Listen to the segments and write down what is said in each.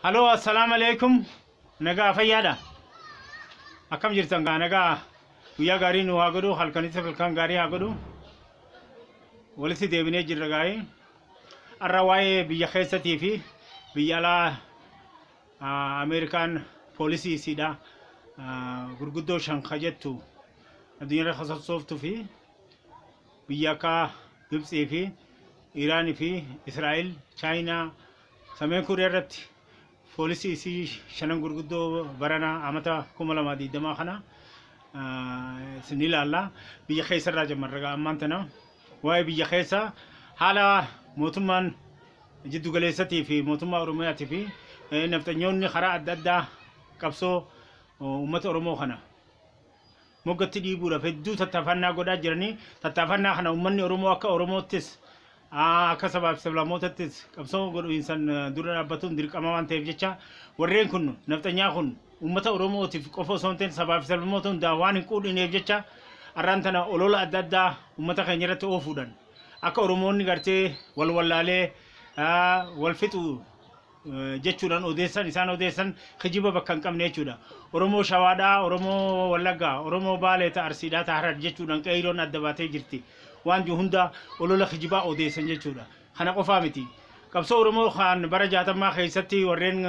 Haloo assalaamu alaikum nagaa fayyaadha akkam jirtan gaa nagaa guyyaa gaarii nu haa godhu halkanis halkan gaarii haa godhu walitti deebinee jirra gaarii har'a waa'ee biyya keessatii fi biyya alaa ah, Ameerikaan poolisii isiidha ah, gurguddoo shan ka jettu addunyaarra kasassooftu fi Biyya akka Gibtsii fi Iraan fi Israa'el, Chaayinaa, Sameen Kooriyaa irratti foolisii isii shanan gurguddoo barana amata 2020 kana isin ilaalla. Biyya keessa irraa jammarra ammaan tana waa'ee biyya keessa haala mootummaan jiddu galeessatii fi mootummaa Oromiyaatii fi nafxanyoonni karaa adda addaa qabsoo uummata Oromoo kana moggatti dhiibuudhaaf hedduu tattaafannaa godhaa jiranii tattaafannaa kana uummanni Oromoo akka Oromoottis akka sabaaf sablammootattis qabsoo godhuinsan dura dhaabbatuun dirqama waan ta'eef jecha warreen kun nafxanyaa kun uummata Oromootiif qofa osoo hin ta'in sabaa fi sablammoota hundaa waan hin quudhineef jecha arraan tana olola adda addaa uummata keenya irratti oofuudhaan akka Oromoonni gartee wal wallaalee wal fixu jechuudhaan odeessan isaan odeessan kijiba bakka hin qabne jechuudha. Oromoo Shawaadhaa, Oromoo Wallaggaa, Oromoo Baalee ta Arsiidhaa ta Harar jechuudhaan qeeyroon adda baatee jirti. Waan jiru hunda olola kijibaa odeessan jechuudha. Kana qofaa miti. Qabsoo Oromoo kan bara jaatammaa keessatti warreen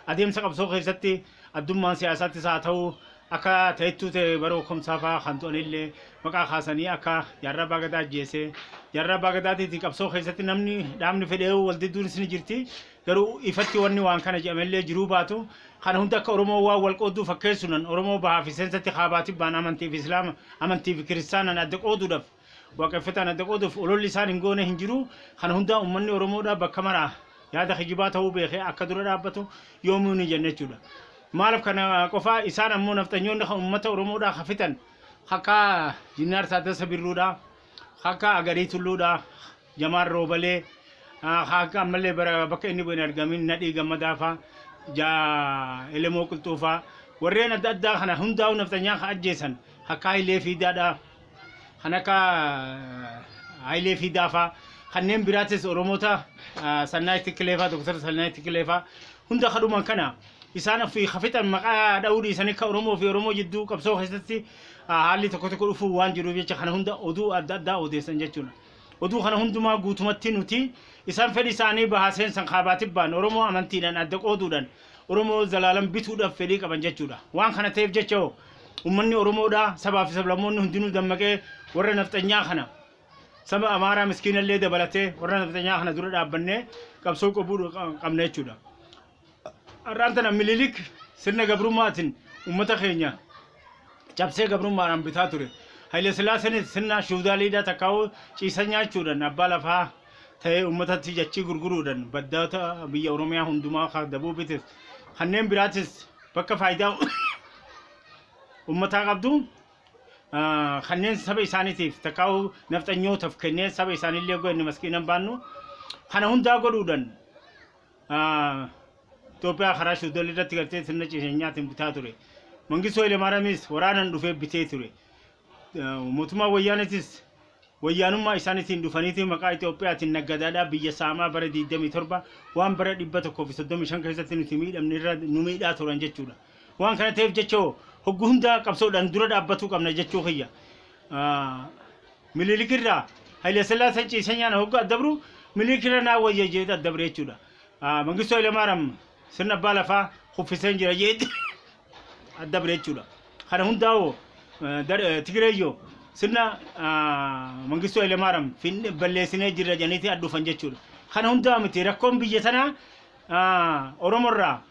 adeemsa qabsoo keessatti Addummaan siyaasaattis haa ta'uu akka ta'ettuu ta'e bara Okomsaa fa'aa kan du'anillee maqaa kaasanii akka Jaarraa Abbaa Gadaa ajjeese Jaarraa Abbaa Gadaatiiti qabsoo keessatti namni dhaabni fedheewu wal didduunis ni jirti garuu ifatti wanni waan kana jedhamellee jiruu baatu kana hunda akka Oromoo waan wal qoodduu fakkeessunan Oromoo bahaa fi seensatti kaabaa tibbaan amantii fi Islaama amantii fi kiristaanaan adda qooduudhaaf waaqeffataan adda qooduuf ololli isaan hin goone hin jiru. Kana hundaa ummanni Oromoodhaa bakka maraa yaada kijibaa ta'uu beekee akka dura dhaabbatu yoomuu ni jenna jechuudha. Maalif kana qofaa isaan ammoo nafxanyoonni kan ummata Oromoodhaa kan fixan akka Jinnaar Taaddasa Birruudhaa, akka Agarii Tulluudhaa, Jamaal Roobalee haaka ammallee bara bakka inni bu'een argamin Nadhii Gammadaa faa ja Elemoo Qilxuu faa warreen adda addaa kana hundaa'uu nafxanyaa kan ajjeesan akka Hayilee Fiidaadha kan akka Hayilee Fiidaa faa kanneen biraatis Oromoota Sannaay Tikkilee faa Dooktar Sannaay Tikkilee faa hunda kadhuman kana isaan ofii kafixan maqaa dha'uu dhiisanii akka Oromoo fi Oromoo jidduu qabsoo keessatti haalli tokko tokko dhufuu waan jiruuf jecha kana hunda oduu adda addaa odeessan jechuudha. Oduu kana hundumaa guutumatti nuti isaan fedhi isaanii bahaa seensan kaabaa tibbaan Oromoo amantiidhan adda qooduudhan Oromoo zalaalam bituudhaf fedhii qaban jechuudha. Waan kana ta'eef jecha hoo ummanni Oromoodha sabaa fi sablammoonni hundinuu dammaqee warra nafxanyaa kana saba Amaaraa miskiinallee dabalatee warra nafxanyaa kana dura dhaabbannee qabsoo qabuu qabna jechuudha. har'aan tana Minilik sirna gabrummaatiin uummata keenya cabsee gabrummaadhaan bitaa ture. Haile Sillaaseenis sirna shuudaaliidhaa takkaa'uu ciisa nyaachuudhaan abbaa lafaa ta'ee uummatatti jachii gurguruudhaan baddoota biyya Oromiyaa hundumaa ka Dabuubitis kanneen biraatis bakka faayidaa uummataa qabdu ah, kanneen saba isaaniitiif takkaa'uu nafxanyootaaf kennee saba isaaniillee goone maskiinan baannu kana hundaa godhuudhaan Itoophiyaa karaa Suudal irratti gartee sirna ciiseenyaatiin bitaa ture. Mangistuu Hayilemaaraamis waraanaan dhufee bitee ture. Mootummaa Wayyaanetis wayyaanummaa isaaniitiin dhufaniitii maqaa Itoophiyaatiin naggadaadhaa biyya saamaa bara 27 waan bara 135 keessatti nuti miidhamne irra nu miidhaa turan jechuudha. Waan kana ta'eef jecha hoggu hundaa qabsoodhaan dura dhaabbatuu qabna jechuu kiyya. Minilik irraa Hayilasillaaseen ciisee nyaana hoggaa addabru Minilik irra naa wayya jeeti addabre jechuudha. Mangistuu Hayilamaaraam sirna abbaa lafaa kuffiseen jira jeeti addabre jechuudha. Kana hundaa'oo Tigireeyyoo sirna Mangistuu Hayilamaaraam balleessinee jirra jedhaniiti adhufan jechuudha. Kana hundaa miti rakkoon biyya sanaa Oromorraa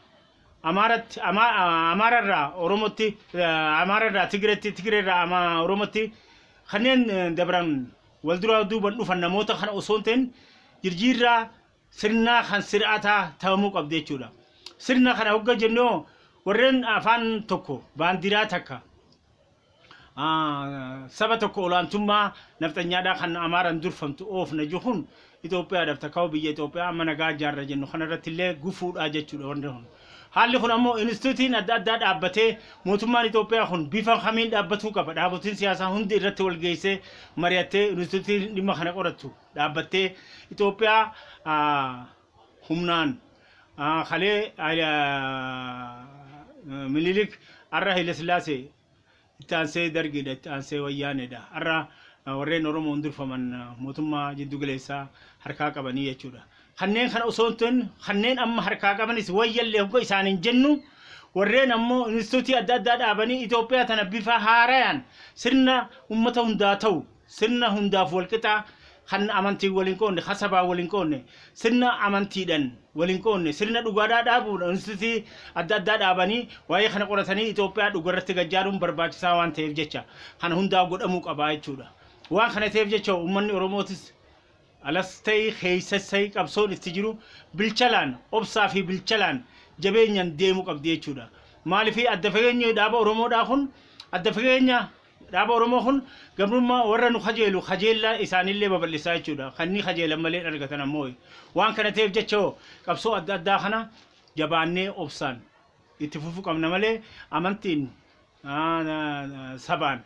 Amaaratti, Amaara irraa Oromotti, Amaara irraa Tigreetti, Tigree irraa Oromotti kanneen dabran wal duraa duuban dhufan namoota kana osoo hin ta'in jirjiirraa sirnaa kan sir'ataa ta'amuu qabdi jechuudha. Sirna kana hogga jennoo warreen afaan tokko baandiraa takka saba tokko olaantummaa nafxanyaadhaa kan Amaaran durfamtu oofna jiru kun Itoophiyaadhaaf takkaa'u biyya Itoophiyaa amma nagaa ijaarra jennu kanarratti illee gufuudhaa jechuudha wanti kun. Haalli kun ammoo inistituutiin adda addaa dhaabbatee mootummaan Itoophiyaa kun bifa kamiin dhaabbatuu qaba. Dhaabotiin siyaasaa hundi irratti wal geessee mari'attee inistituutiin dhimma kana qorattu dhaabbattee Itoophiyaa humnaan kalee Minilik har'a Hayilasillaasee itti aansee Dargiidha itti aansee Wayyaaneedha har'a warreen Oromoon durfaman mootummaa jiddu galeessaa harkaa qabanii jechuudha. Kanneen kana osoo hin ta'in kanneen amma harkaa qabanis wayyallee hogga isaan hin jennu warreen ammoo inistituutii adda addaa dhaabanii Itoophiyaa tana bifa haarayaan sirna uummata hundaa ta'u Sirna hundaaf walqixa, kan amantiin wal hin qoodne, kan sabaan wal hin qoodne, sirna amantiidhan wal hin qoodne, sirna dhugaadhaa dhaabuudha. Instituutii adda addaa dhaabanii waa'ee kana qoratanii Itoophiyaa dhugarratti gad jaaruun barbaachisaa waan ta'eef jecha kana hundaa godhamuu qaba jechuudha. Waan kana ta'eef jecha uummanni Oromootis alas ta'ii keessas ta'ii qabsoon itti jiru bilchalaan, obsaa fi bilchalaan jabeenyan deemu qabdi jechuudha. Maaliif adda fageenyi dhaaba Oromoodhaa kun adda fageenya Dhaaba Oromoo kun gabrummaa warra nu kajeelu kajeellaa isaaniillee babal'isaa jechuudha. Kan ni kajeelan malee hin argatan ammooy. Waan kana ta'eef jecha hoo qabsoo adda addaa kana jabaannee obsaan itti fufuu qabna malee amantiin, sabaan,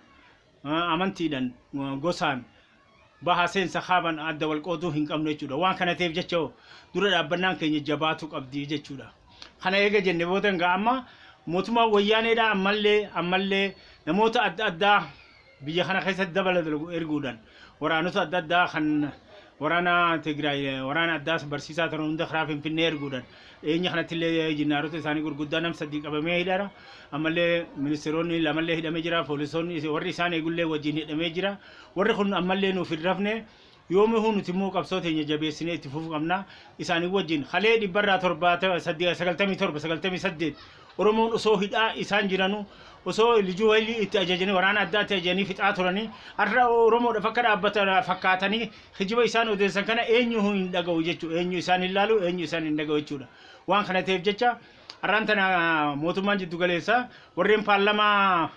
amantiidhan, gosaan, baha seensa kaaban adda wal qooduu hin qabnu jechuudha. Waan kana ta'eef jecha hoo dura dhaabbannaan keenya jabaatu qabdi jechuudha. Kana eega jenne booda egaa amma mootummaan wayyaaneedha ammallee ammallee namoota adda addaa biyya kana keessatti dabala dalagu erguudhaan waraanota adda addaa kan waraana Tigraay waraana addaas barsiisaa turan hunda karaa Finfinnee erguudhaan dhiyeenya kanatti illee jinnaarota isaanii gurguddaa nam sadii qabamee hidhara ammallee ministeeronni lamallee hidhamee jira poolisoonni warri isaan eegullee wajjin hidhamee jira Warri kun ammallee nuuf hin rafne. Yoomihuu nuti immoo qabsoo teenya jabeessinee itti fufuu qabna. Isaanii wajjin kalee dhibbarraa 97, 98 Oromoon osoo hidhaa isaan jiranu osoo lijuu haylii itti ajajanii waraana addaa itti ajajanii fixaa turanii har'a Oromoodhaaf akka dhaabbatan fakkaatanii kijiba isaan odeessan kana eenyu hin dhaga'u jechuudha. Eenyu isaan hin laalu, eenyu isaan hin dhaga'u jechuudha. Waan kana ta'eef jecha har'aan tana mootummaan jiddu galeessaa warreen paarlamaa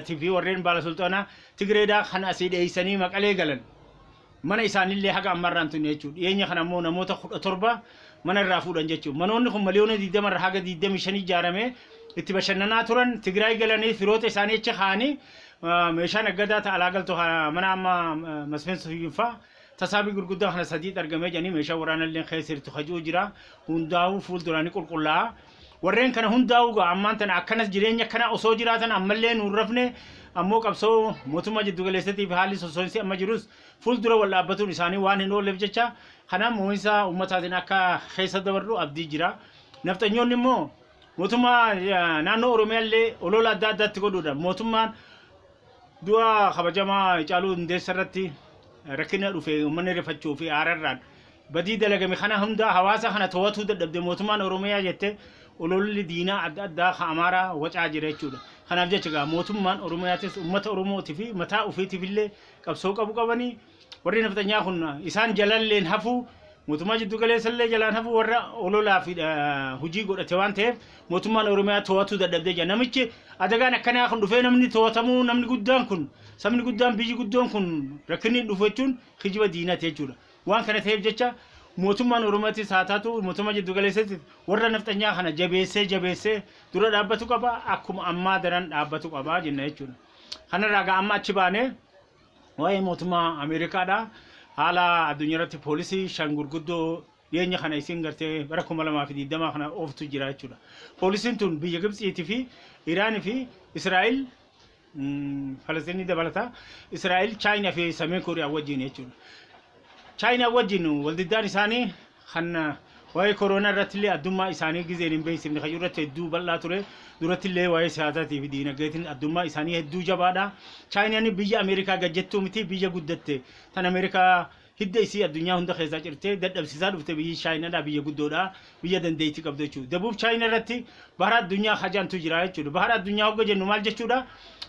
fi warreen baala sulxaanaa Tigreedhaa kan asii dheessanii Maqalee galan mana isaanillee haga amma irraa hin tunne jechuudha. Dhiyeenya kana ammoo namoota 17 mana irraa fuudhan jechuudha. Manoonni kun miliyoona 20 irraa haga 25 ijaaramee itti bashannanaa turan Tigraay galanii firoota isaanii achi kaa'anii meeshaa naggadaa ta'a alaa galtu mana amma Masfin Suyyunfaa Tasaabii gurguddaa kana sadiitti argamee jedhanii meeshaa waraanalleen keessa jirtu ka ji'u jira. Hundaa'uu fuulduraa ni qulqullaa'a. Warreen kana hundaa'uu gaa ammaan tana akkanas jireenya akkanaa osoo jiraatan ammallee nuun rafne ammoo qabsoo mootummaa jiddu galeessatiif haalli sosso'insi amma jirus fuuldura wal dhaabbatuun isaanii waan hin oolleef jecha kana moo'insa ummataatiin akka keessa dabarru abdii jira. Nafxanyoonni immoo mootummaa naannoo Oromiyaallee olola adda addaatti godhuudhaan mootummaan Du'a kabajamaa Hacaaluu Hundeessa irratti rakkina dhufe uummanni rifachuu fi aararraan badii dalagame kana hundaa hawaasa kana to'atuu dadhabde mootummaan Oromiyaa jette ololli diinaa adda addaa kan Amaaraa wacaa jira jechuudha. Kanaaf jecha egaa mootummaan Oromiyaatis uummata Oromootii fi mataa ofiitiif illee qabsoo qabu qabanii Warri nafxanyaa kun isaan jalalleen hafuu mootummaa jiddu galeessallee jalaan hafuu warra ololaa fi hojii godhate waan ta'eef mootummaan Oromiyaa to'atuu dadhabdee jira. Namichi adagaan akkanaa kun dhufee namni to'atamuu namni guddaan kun sabni guddaan biyyi guddoon kun rakkinni dhufu jechuun kijiba diinati jechuudha. Waan kana ta'eef jecha mootummaan Oromiyaatis haa taatu mootummaa jiddu galeessatti warra nafxanyaa kana jabeessee jabeessee dura dhaabbatu qaba akkuma ammaa daran dhaabbatu qaba jenna jechuudha. Kanarraa gaa amma achi baanee Waa'ee mootummaa Ameerikaadha. Haala addunyaa irratti poolisii shan gurguddoo dhiyeenya kana isiin gartee bara 2020 kana ooftu jira jechuudha. Poolisiin tun biyya Gibtsiitii fi Iraan fi Israa'el Falasxiinii dabalata. Israa'el Chaayinaa fi Sameen Kooriyaa wajjin jechuudha. Chaayinaa wajjin waldiddaan isaanii kan waa'ee koroonaa irrattillee addummaa isaanii gizeen hin beeksifne kan irratti hedduu bal'aa ture durattillee waa'ee siyaasaatii fi diinagdeetiin addummaa isaanii hedduu jabaadha chaayinaan biyya ameerikaa gajjettuu miti biyya guddatte tan ameerikaa hidda isii addunyaa hunda keessaa cirtee dadhabsiisaa dhufte biyyi chaayinaadha biyya guddoodha biyya dandeettii qabdu jechuudha dabuub chaayina irratti bahara addunyaa hajaantu jira jechuudha bahara addunyaa hogga jennu maal jechuudha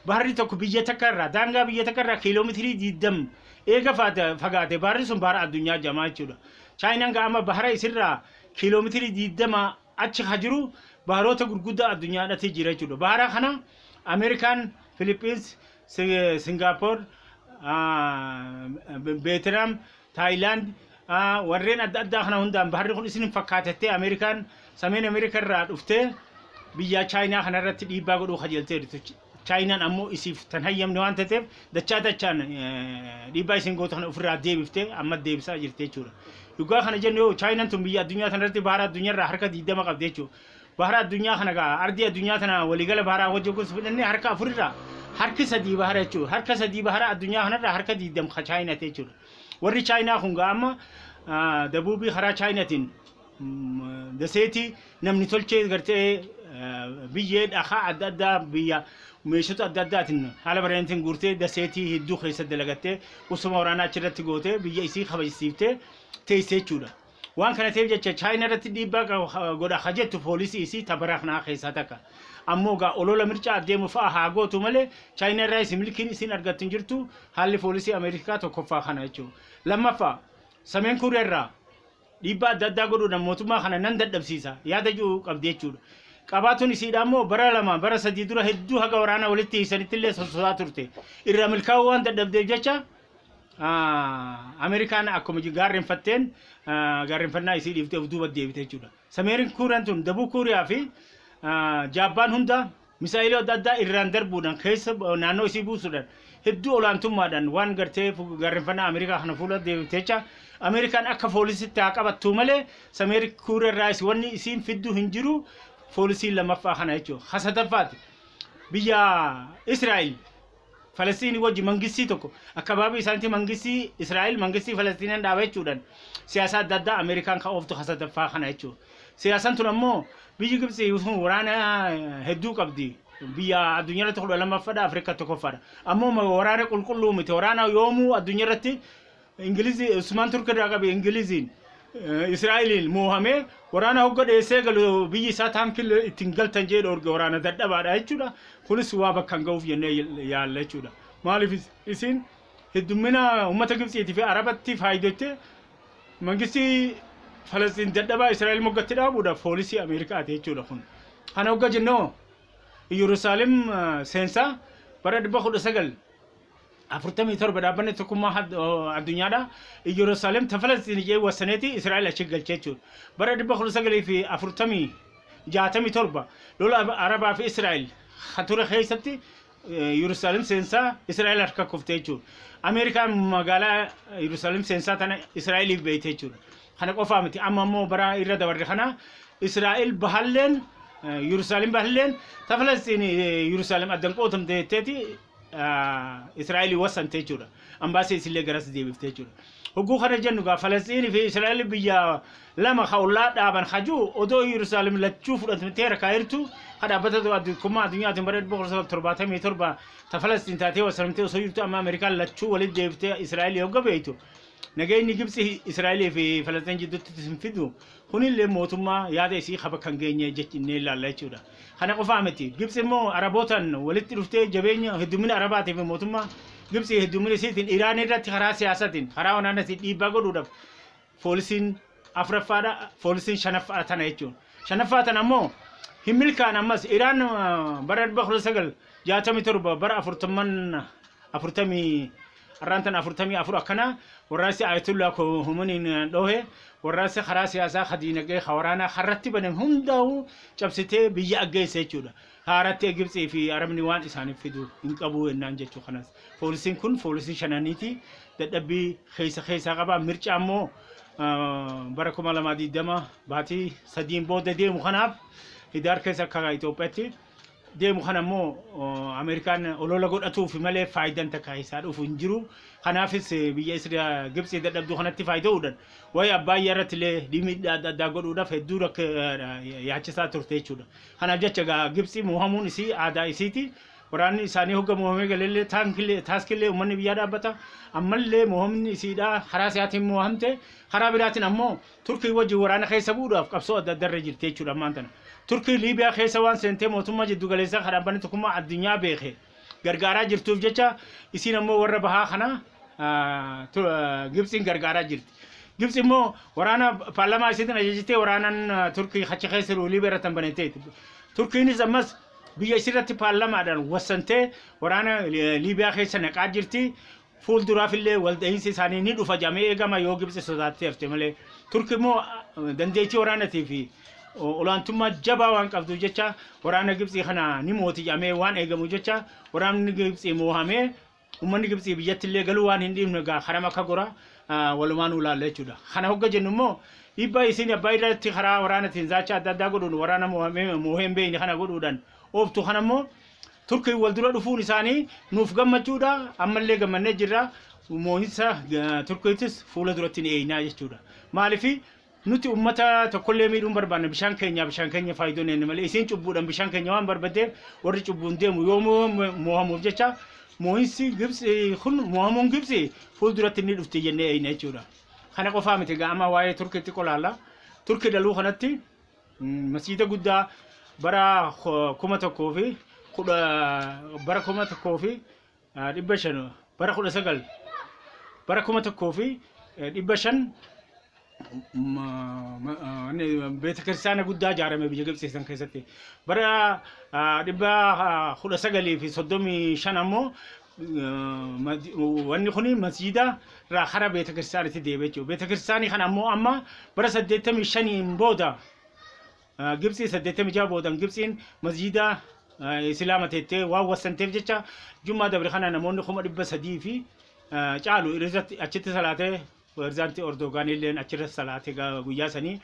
baharri tokko biyya takka irraa daangaa biyya takka irraa kiiloomeetirii 20 eega faate- fagaate baharri sun bahara addunyaa jamaa jechuudha Chaayinaan ga amma bahara isirraa kiiloometirii 20 achi ka jiru baharoota gurguddaa addunyaadhati jira jechuudha. Bahara kana Ameerikaan, Filiippiins, Singaapoor, Veetinaam, Taayilaand warreen adda addaa kana hundaan baharri kun isin hin fakkaatettee Ameerikaan sameen Ameerikaa irraa dhuftee biyyaa Chaayinaa kana irratti dhiibbaa godhuu kajeeltee jirti. Chaayinaan ammoo isiif tan hayyamne waan tateef dachaa dachaan dhiibbaa isiin gootu kana ofirraa deebiftee amma deebisaa jirti jechuudha. Dhugaa kana jennu yoo Chaayinaan tun biyya addunyaa tanarratti bahara addunyaarraa harka 20 qabdi jechuudha. Bahara addunyaa kana gaa ardii addunyaa tana waliigala baharaa wajjin kun fudhanne harka afurirraa harki sadii bahara jechuudha. Harka sadii bahara addunyaa kanarraa harka 20 ka Chaayinaati jechuudha. Warri Chaayinaa kun gaa amma dabuubii karaa Chaayinaatiin daseetii namni tolchee gartee biyyee dhakaa adda addaa biyya meeshota adda addaatiin haala bareedintiin guurtee daseetii hedduu keessa dalagattee qubsuma waraanaa achirratti gootee biyya isii kabajsiiftee teessee jechuudha. Waan kana ta'eef jecha chaayina irratti dhiibbaa godha ha jettu poolisii isii tabaraa kanaa keessaa takka. Ammoo gaa olola mircaa adeemu fa'a haa gootu malee chaayina irraa isin milkiin isin argattu hin jirtu haalli poolisii Ameerikaa tokkoffaa kana jechuudha. Lammaffaa sameen kuuriyaa irraa dhiibbaa adda addaa godhuudhaan mootummaa kana nan dadhabsiisa yaada jedhu qabdi jechuudha. Qabaatuun isiidhaa immoo bara lama bara sadii dura hedduu haga waraana walitti hiisanitti illee sososaa turte. Irraa milkaa'uu waan dadhabdeef jecha Ameerikaan akkuma gaarreenfatteen gaarreenfannaa isii dhiiftee of duuba deebite jechuudha. Sameerin Kuuriyaan tun Dabuu Kuuriyaa fi Jaappaan hunda Misaa'elii adda addaa irraan darbuudhaan keessa naannoo isii buusuudhaan hedduu olaantummaadhaan waan gartee gaarrenfannaa Ameerikaa kana fuula deemte jecha Ameerikaan akka foolisitti haa qabattuu malee Sameeri Kuurerraayis wanni isiin fiddu hin jiru foolisii lamaffaa kana jechuudha. Ka sadaffaati biyya Israa'el Falasxiinii wajji mangistii tokko akkabaabii isaanitti mangistii Israa'el mangistii Falasxiinaan dhaaba jechuudhaan siyaasa adda addaa Ameerikaan kan ooftu hasadaffaa kana jechuudha. Siyaasan tun ammoo biyyi Gibxi sun waraana hedduu qabdi. Biyya addunyaa irratti kudha lammaffadha Afrikaa tokkoffaadha. Ammoo waraana qulqulluu miti. Waraana yoomuu addunyaa irratti Ingilizii Usmaan Turk irraa qabe Ingiliziin Israa'eliin moohamee waraana hogga dheessee galu biyyi isaa taankil ittiin galtan jee dhoorge waraana dadhabaadha jechuudha. Kunis waa bakkaan ga'uuf jennee yaalla jechuudha. Maaliif isiin heddummina uummata Gibtsiitii fi Arabatti faayidottee mangistii Falastiin dadhabaa Israa'el moggatti dhaabuudha poolisii Ameerikaati jechuudha kun. Kana hogga jennoo Iyyerusaalem seensaa bara dhibba kudha sagal afurtamii torba dhaabbanni tokkummaa had- oo, addunyaadha iyyerusaalem ta falastiin ijee wasaneeti israa'el achi galchee jechuudha bara dhibba kudha sagalii fi afurtamii jaatamii torba lola Ab- arabaa fi israa'el ha ture keessatti eh, yerusaalem seensaa israa'el harka kuftee jechuudha ameerikaan magaalaa yerusaalem seensaa tana israa'eliif beeyte jechuudha kana qofaa miti amma immoo bara irra dabarre kana israa'el bahalleen yerusaalem bahalleen ta falastiin yerusaalem addan qootamte jetteeti Israa'el wassante jechuudha. Ambaasii isillee garas deebifte jechuudha. Hogguu kana jennu gaa Falasxiinii fi Israa'el biyya lama ka ollaa dhaaban hajuu odoo Yerusaalem lachuu fudhatamtee harkaa jirtu ka dhaabbata addunyaa addunyaatiin bara 1977 ta Falasxiin taatee wassaramtee osoo jirtu amma Ameerikaan lachuu walitti deebiftee Israa'el hogga beektu nageenyi Gibtsi Israa'elii fi Falasxiin jidduutti hin fidu kunillee mootummaa yaada isii ka bakka hin geenye jennee ilaalla jechuudha. Kana qofaa miti. Gibtsi immoo Arabootaan walitti dhuftee jabeenya heddummina Arabaatii fi mootummaa Gibtsi heddummina isiitiin Iraan irratti karaa siyaasaatiin, karaa wanaanaatiin dhiibbaa godhuudhaaf poolisiin afraffaadha, poolisiin shanaffaa tana jechuun. Shanaffaa tana immoo hin milkaan ammas Iraan bara 1967 bara afurtamman afurtamii Har'aan tana 44 akkanaa warraaqsi Ayatollah Khomeiniin dhoohe warraaqsa karaa siyaasaa, ka diinagdee, ka waraanaa karratti banan hundaa'uu cabsitee biyya aggeesse jechuudha. Haaratti Egibtsii fi Arabni waan isaaniif fidu hin qabu ennaan jechuu kanas. Poolisiin kun poolisii shananiiti. Dadhabbii keessa keessaa qaba. Mircaa immoo bara 2020 baatii sadiin booda deemu kanaaf Hidaar keessa akka Itoophiyaatti deemu kana immoo Ameerikaan olola godhatuuf malee faayidaan takka isaa dhufu hin jiru. Kanaafis biyya Isra Gibxii dadhabduu kanatti faayida'uudhaan waa'ee Abbaayyaa irratti illee dhimmiidhaa adda addaa godhuudhaaf hedduu rakka yaachisaa turte jechuudha. Kanaaf jecha egaa Gibxii moohamuun isii aadaa isiiti. Waraanni isaanii hogga moohamee galellee taankillee taaskillee uummanni biyyaa dhaabbata. Ammallee moohamni isiidhaa karaa isaatiin moohamte karaa biraatiin ammoo Turkii wajjin waraana keessa bu'uudhaaf qabsoo adda addaa irra jirti jechuudha ammaan tana. Turkii Liibiyaa keessa waan seentee mootummaa jiddu galeessaa kan dhaabbanni tokkummaa addunyaa beeke gargaaraa jirtuuf jecha isiin ammoo warra bahaa kana Gibtsiin gargaaraa jirti. Gibtsi immoo waraana paarlamaa isiitiin ajajitee waraanan Turkii achi keessa jiru Liibiyaa irratti hin baneteeti. Turkiinis ammas biyya isirratti paarlamaadhaan wassantee waraana Liibiyaa keessa naqaa jirti. Fuulduraafillee waldahiinsi isaanii ni dhufa jedhamee eegama yoo Gibtsi sodaattee hafte malee. Turki immoo dandeettii waraanatii fi olaantummaa jabaa waan qabduuf jecha waraana Gibtsii kana ni mooti jedhamee waan eegamu jecha waraanni Gibtsii moohamee uummanni Gibtsii biyyattillee galuu waan hin dhiifne gaa karam akka gora walumaan ulaalla jechuudha. Kana hogga jennu immoo dhiibbaa isiin abbaa irratti karaa waraanatiin zaacha adda addaa godhuun waraana moohee hin beekne kana godhuudhaan ooftu kana immoo Turkiin wal dura dhufuun isaanii nuuf gammachuudha. Ammallee gammannee jirra. Moo'insa eh, Turkiitis fuula duratti ni eegnaa jechuudha. Maaliif nuti uummata tokkollee miidhuun barbaanna bishaan keenya bishaan keenya faayidoo nenne malee isiin cubbuudhaan bishaan keenya waan barbadeef warri cubbuun deemu yoo moo'amu- moo'amuuf jecha moo'insi Gibtsi kun moo'amuun Gibtsi fuul duratti ni dhufti jennee eegna jechuudha. Kana qofaa miti ga'ama waa'ee Turkiitti qolaalla. Turkii daluu kanatti Masjiida guddaa bara kuma tokkoo fi kudha bara kuma tokkoo fi dhibba shan bara kudha sagal bara kuma tokkoo fi dhibba shan beeta kiristaana guddaa ijaarame biyya Gibxii san keessatti bara dhibba kudha sagalii fi soddomii shan ammoo wanni kun masiida irraa hara beeta kiristaanitti deebi'e jechuudha. Beeta kiristaanii kana ammoo amma bara 85 booda Gibxii 86 boodan Gibxiin masiida Islaama teettee waan wassanteef jecha Jummaa dabre kana namoonni kuma dhibba sadii fi caalu irratti achitti salaatee Pirezidaanti Erdoogaan illeen achirra salaate ga- guyyaa sanii.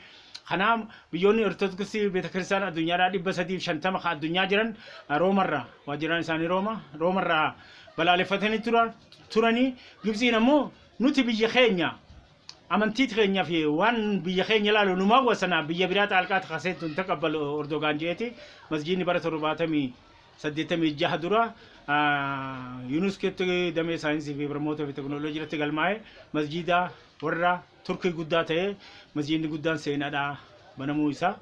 Kanaa biyyoonni Ortodoksii Beetakiristaana addunyaadhaa dhibba sadii fi shantama ka addunyaa jiran eh, Roomarraa waajjiraan isaanii Rooma Roomarraa balaaleffatanii tura- turanii Gibtsiin ammoo nuti biyya keenya amantii keenya fi waan biyya keenya ilaalu nu maawwasana biyya biraa xaalqaa takaseentu hin taqabbalu Ordogaan jeeti masjiidni bara torbaatamii 86 dura UNESCOtti damee saayinsii fi barnoota fi teknooloojii irratti galmaa'e masjiida warra Turkii guddaa ta'e masjiidni guddaan seenaadha banamuu isaa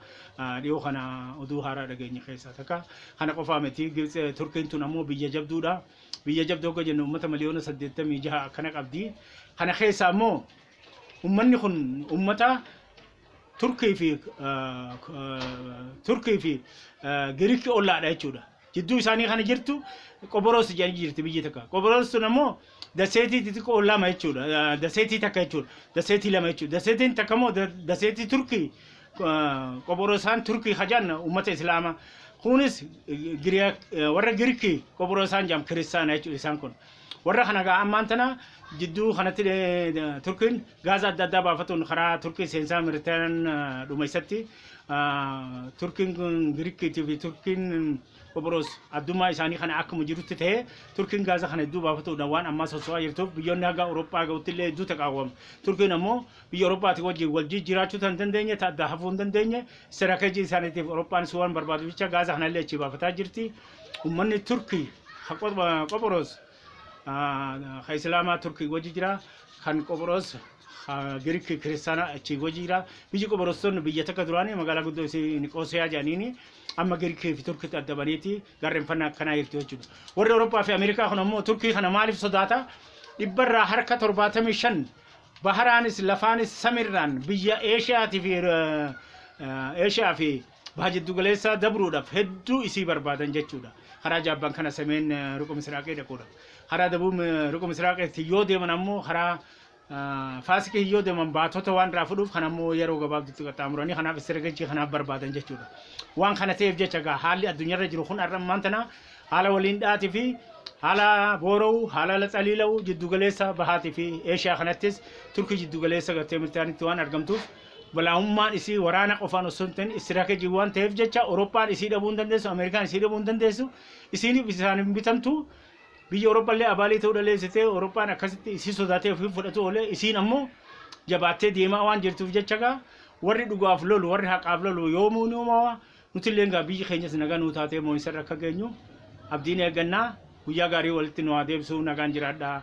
dhiyoo kana oduu haaraa dhageenye keessaa takka. Kana qofaa miti Turkiin tun ammoo biyya jabduudha. Biyya jabduu akka jennu uummata miliyoona 86 akkana qabdi. Kana keessaa ammoo uummanni kun uummata Turkii fi Turkii fi Giriikii ollaadha jechuudha. Jidduu isaanii kana jirtu Qoboros jedhanii jirti biyyi takka. Qoboros sun ammoo daseetii xixiqqoo lama jechuudha. Daseetii takka jechuudha. Daseetii lama jechuudha. Daseetiin takka immoo daseetii Turkii Qoborosaan Turkii hajaan uummata Islaamaa. Kunis warra Giriikii Qoborosaan jedhamu kiristaana jechuudha isaan kun. Warra kana egaa ammaan tana jidduu kanatti Turkiin gaaza adda addaa baafatuun karaa Turkii seensaa Miritaan dhuma isatti Turkiin Girikiitii fi Turkiin Qophiroos addummaa isaanii kana akkuma jirutti ta'ee Turkiin gaaza kana hedduu baafatuudha waan ammaa soso'aa jirtuuf biyyoonni haga Awurooppaa ga'utti illee hedduu taqaawwamu. Turkiin ammoo biyya Awurooppaatii wajjin wal jijjiiraachuu tan dandeenye ta'adda hafuu hin dandeenye istiraakejii isaaniitiif Awurooppaanis waan barbaadu jecha gaaza kana illee achii baafataa jirti. ummanni turki ha Qop- ah, qophoros ah, ha islaamaa turki wajji jira kan qophoros ha giriki kiristaana achi wajji jira biyyi qophorostonni biyya takka duraanii magaalaa guddoo isii niqoosiyaa jedhaniini amma girikii fi turkitti adda baneeti garreenfannaa akkanaa jirti jechuudha warri awurooppaa fi ameerikaa kun ammoo turkii kana maaliif sodaata dhibbarraa harka torbaatamii shan baharaanis lafaanis samirraan biyya eeshiyaatii fi eh, eh, eeshiyaa fi baha jiddugaleessaa dabruudhaaf hedduu isii barbaadan jechuudha. Karaa jaabbaan kana semeen ruqa misiraaqee dhaquudhaaf. Karaa dabuu ruqa misiraaqeetti yoo deeman ammoo karaa faasikiin yoo deeman baatota waan irraa fudhuuf kan ammoo yeroo gabaabdutti qaxxaamuranii kanaaf istiragachii kanaaf barbaadan jechuudha. Waan kana ta'eef jecha gaa haalli addunyaarra jiru kun har'a ammaan tana haala waliin dhaatii fi haala boora'u, haala laxaliila'u jiddugaleessa bahaatii fi eeshiyaa kanattis turkii jiddugaleessa gattee mirtaanitti waan argamtuuf Balaa'ummaan isii waraana qofaan osoo hin ta'in istiraatejii waan ta'eef jecha Awurooppaan isii dhabuu hin dandeessu, Ameerikaan isii dhabuu hin dandeessu, isiiniif isaan hin bitamtu. Biyyi Awurooppaa illee abaalii ta'uu dhaleessitee Awurooppaan akkasitti isii sodaatee ofii fudhatu oolee isiin ammoo jabaattee deemaa waan jirtuuf jecha gaa warri dhugaaf lolu warri haqaaf lolu yoomuu ni uumawa nuti illee gaa biyyi keenyas nagaa nuu taatee moo'insarra akka geenyu abdiin eeggannaa guyyaa gaarii walitti nu haa deebisuu nagaan jiraadhaa.